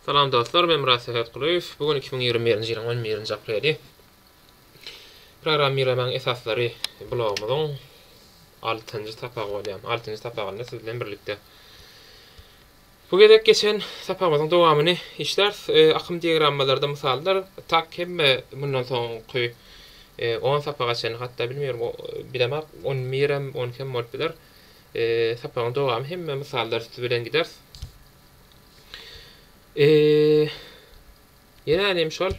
Salam dostlar men Myrat Sähetgulyýew bu gün iki müň ýigrimi birinji ýylyň on birinji apreli Programmirlemäň esaslary blogumyzyň altynjy sapagy bolýar altynjy sapagynda siz bilen birlikde Bu gezek geçen sapagymyzyň dowamyny işläris akym diagrammalarda mysallar tak hemme mundan soňky on sapaga çenli hatda bilmeýärin bilemok on birem on ikigem bolup biler Sapagyň dowamy hemme mysallar üsti bilen gider. Ýene-de hem şol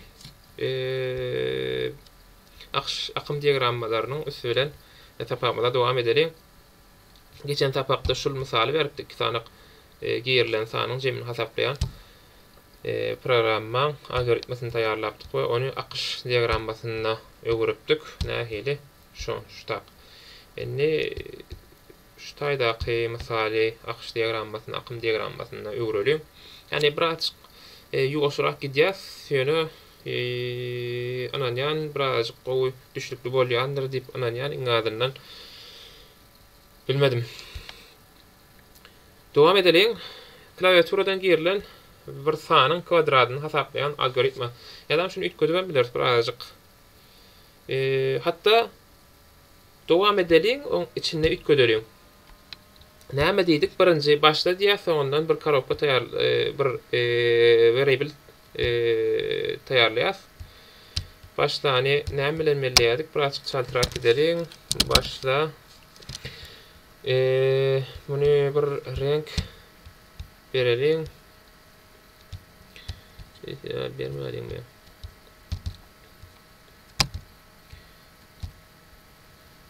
akyş, akym diagrammalarynyň üsti bilen sapagymyza dowam edeliň. Geçen sapakda şul mysaly beripdik, iki sanak girilen sanyň jemini hasaplaýan programmaň algoritmasyny taýýarlapdyk we ony akyş diagrammasyna öwüripdik. Nähili? Şo, şutak. Indi şu taýdaky mysaly akyş diagrammasyna, akym diagrammasyna öwreliň. Ýagny birazajyk ýuwaşrak gidýäs, ýöne ynanýan birazajyk gowy düşnükli bolýandyr diýip ynanýan iň azyndan. Bilmedim. Dowam edeliň. Klawiaturadan girilen bir sanyň kwadradyny hasaplaýan algoritma. Ýa-da şuny üýtgedibem bileris birazajyk. Hatda dowam edeliň oň içinde üýtgedeliň. Näme diýdik birinji başla diýýär soňundan bir korobka taýýar bir weriable taýýarlaýas. Başlany näme bilen belleýärdik birazjyk çaltrak gideliň başla muny bir reňk bereliň. Bermäliňmi?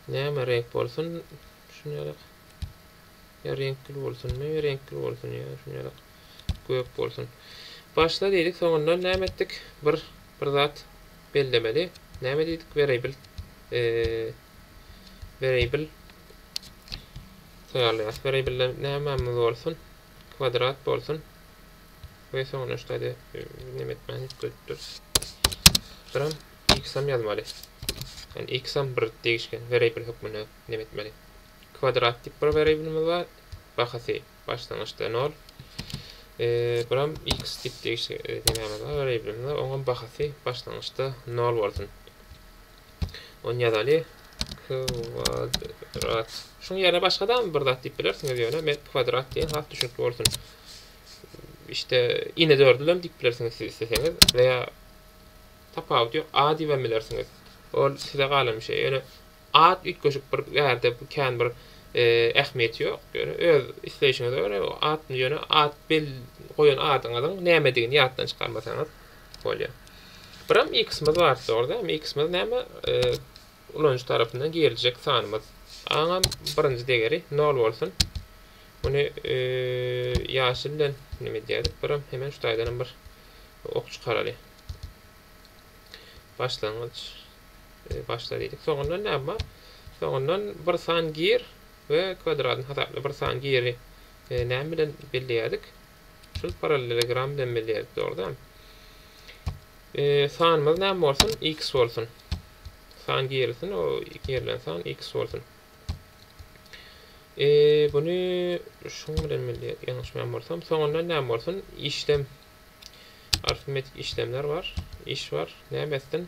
Näme reňk bolsun şunyaraq. Ýa reňkli bolsunmy? Reňkli bolsun ýa şunyaraq. Gök bolsun. Başla diýdik, soňundan näme etdik? Bir bir zat bellemeli. Näme diýdik? Variable. Eee variable taýýarlaýarys. Variable nämämiz bolsun? Kwadrat bolsun. Ve soňra işte hadi neme etmän hep görüp durus. Buram x ham yazmaly. Yani x ham bir değişken variable hökmünde neme etmeli. Kvadrat tip bir variable'miz var. Bahasy başlangyçda 0. Ee, buram x tip değişken e, nememiz var, variable'miz var. Oňam bahasy başlangyçda 0 bolsun. Ony ýazaly, kwadrat. Şuň ýerine başgadam bir zat diýip bilersiňiz, ýöne men kwadrat diýen has düşnükli bolsun. Işte, ine dördülem diýip bilersiňiz siz isleseňiz we ýa tapawudy ýok, a diýibem bilersiňiz. Ol size galan bir şey. Ýöne at üýtgeşik bir bärde kän bir ähmiýeti ýok. Ýöne öz isleýşiňize görä, o at, ýöne at goýan adyňyzyň nämedigini ýatdan çykarmasaňyz, bolýar. Biram x-miz bar zorda, hem x-miz näme ulanyjy tarapyndan giriljek sanymyz. Aňam birinji degeri 0 bolsun. Muny ýaşyl bilen näme edýädik? Biram hemen şu taýdanam bir ok çykaraly. Başlangyç başla diýdik. Soňundan näme bar? Soňundan bir san gir we kwadratyny hasapla. Bir san giri näme bilen belleýädik? Şul parallelogram bilen bilýäris dogruda. Sanymyz näme bolsun? X bolsun. San girilsin, o girilen san X bolsun. Eee, bunu şuň bilen milli ýalňyşmaýan bolsam, soňunda näme bolsun? Işlem. Arifmetik işlemler bar. Iş bar. Näme etsin?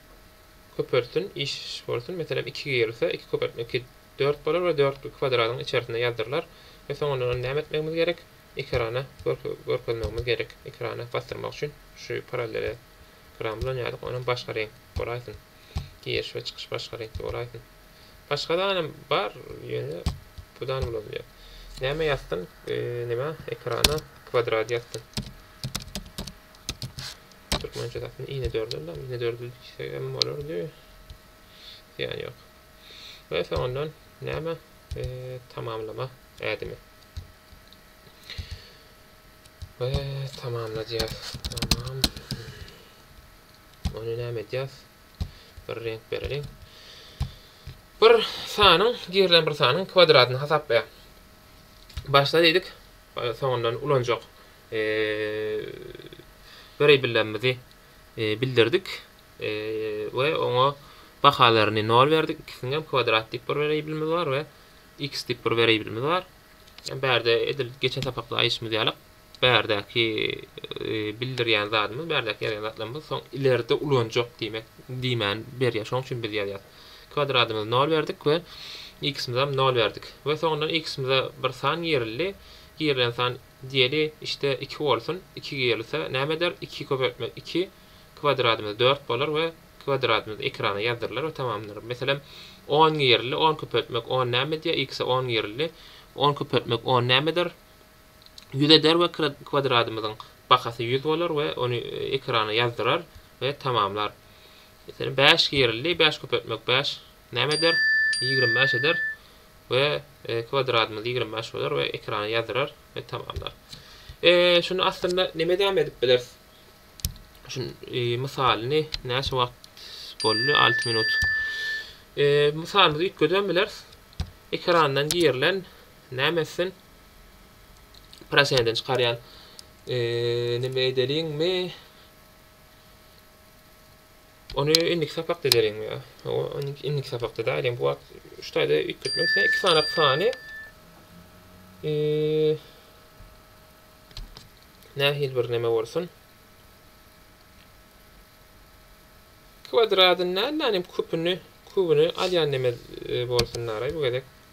köpeltsin, iş bolsun, meselem, iki girilse, iki köpeltme iki, dört bolar we dörtki kwadradyň içerisinde ýazdyrylar we soň ondan ony näme etmegimiz gerek? Ekrana görkezmegimiz gerek. Ekrana basdyrmak üçin şu parallele gram bilen ýazyk, onam başga reňk bolaýsyn. Giriş we çykyş başga reňkde bolaýsyn. Başga danam bar, ýöne bu dany ulanylýar. Näme ýazsyn, nima, ekrana kwadrat ýazsyn. Türkmençe zatyn ine dördül dam ine dördül diýsegem bolardy. Ýan ýok. Ve soňundan näme tamamlama ädimi. Ve tamamladyas. Tamam. Onu näme edýäs? Bir renk bereliň. Bir sanyň, girilen bir sanyň kwadratyny hasaplaýar. Başda diýdik, Soňundan ulanjak wreýbillemizi bildirdik we oňa bahalaryny nol berdik. Ikisiňem kwadrat diýip bir wreýbilimiz bar we x diýip bir wreýbilimiz bar. Bärde edil geçen sapakda aýyşymyz ýalak, bärdäki bildirýän zadymyz, bärdäki ýazýan zatlarymyz soň ileride ulanjak diýmek diýmäni berýär. Şonuň üçin biz ýazýas. Kwadradymyzy nol berdik we x-imizem nol berdik. We soňundan x-imize bir san girildi. Girilen san diýeli işte iki bolsun. Iki girilse näme eder? Iki köpeltme iki. Kwadradymyz dört bolar we kwadradymyz ekrana ýazdyrylar we tamamdyr. Meselem, on girildi. On köpeltmek on näme edýär? X-e on girildi. On köpeltmek on näme eder? Ýüz eder we kwadradymyzyň bahasy ýüz bolar we ony ekrana ýazdyrar we tamamlar. Meselem, bäş girildi, bäş köpeltmek bäş näme eder? Ýigrimi bäş eder we kwadradymyz ýigrimi bäş bolar we ekrana ýazdyrar we tamamlar. Şuny aslynda näme edäm edip bileris? Şun mysalyny näçe wagt boldy? Alty minut. Mysalymyzy üýtgedem bileris. Ekrandan girilen näme etsin? Proseneden çykarýan. Eee, neme edeliňmi? Ony indiki sapakda edeliňmi ýa? O indiki sapakda da edeliň. Bu wagt şu taýda üýtgetmek sen iki sany sany. Eee, nähili bir neme bolsun? Kwadradyndan näme küpüni, kübüni alýan neme e, bolsun naray bu gezek.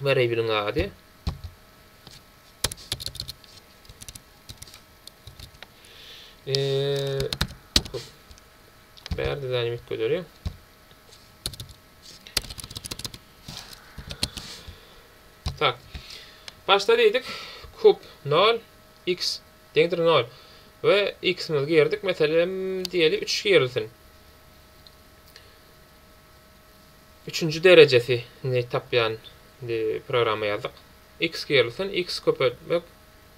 Wariabiliň ady Bärde dynamik gözeli. Tak. Başda diýdik kub 0 x deňdir 0 we x-miz girdik. Meselem diýeli 3 girilsin. Üçünji derejesi ni tapýan di programma ýazdyk. X girilsin, X köpeltmek,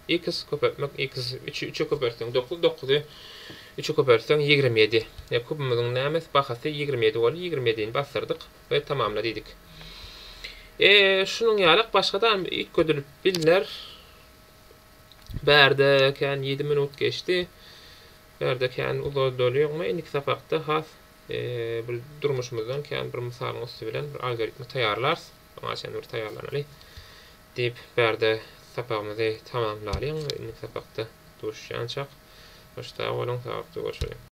X köpeltmek, X üçi üçe köpeltseň dokuz, dokuzy üçe köpeltseň ýigrimi ýedi. Ýa kubumyzyň nämes bahasy ýigrimi ýedi boldy, ýigrimi ýedini basdyrdyk we tamamla diýdik. E şunuň ýalak başgadam üýtgedilip bilner. Bärde kän ýedi minut geçdi. Bärde kän uzaldylyogma indiki sapakda has Bir durmuşymyzdan kän bir mysalyň üsti bilen bir algoritmi taýýarlarys. Oňa çenli bir taýýarlanaly. Diýip, bärde sapagymyzy tamamlalyň. Indiki sapakda duşýançak. Hoş sag boluň, saglyklygörşeliň.